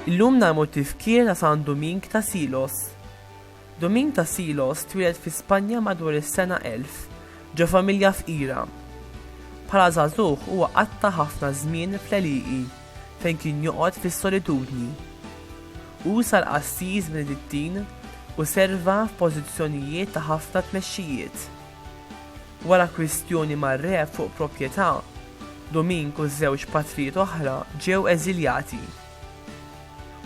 Illum narmu tifkir ta' San Doming ta' Silos. Doming ta' Silos twieled fi Spanja madwar is-sena 1000 ġo familja fqira. Bħala żagħżugħ huwa qatta' ħafna żmien fl-għelieqi. fejn kien joqgħod fis-solitudni. Hu sar qassis Benedittin u serva f'pożizzjonijiet ta' ħafna tmexxijiet. Wara kwistjoni mar-re fuq proprjetà, Dumink u żewġ patrijiet oħra ġew eżiljati.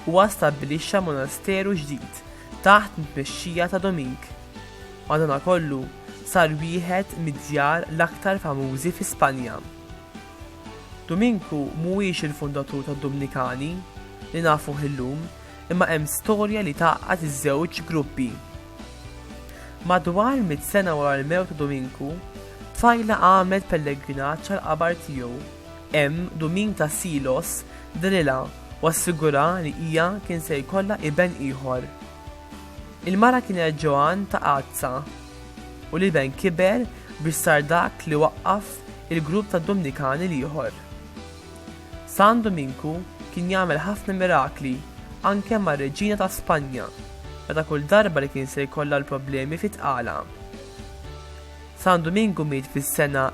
Huwa stabbilixxa monasteru ġdid taħt it-tmexxija ta' Dumink. Madankollu, sar wieħed mid-djar l-aktar famużi fi Spanja. Duminku mhuwiex il-fundatur tad-Dumnikani li nafuh illum, imma hemm storja li tgħaqqad iż-żewġ gruppi. Madwar mitt sena wara l-mewt ta' Duminku, tfajla għamlet pellegrinaġġ għall-qabar tiegħu. Hemm, Duminka Silos drilha u assigura li hija kien se jkollha iben ieħor. Il-mara kienet Joan ta' Azza. u li ben kiber biex sar dak li waqqaf il-grupp tad-Dumnikani l-ieħor. San Duminku kien jagħmel ħafna mirakli anke mar-Reġina ta' Spanja meta kull darba li kien se jkollha l-problemi fi tqala. San Duminku miet fis-sena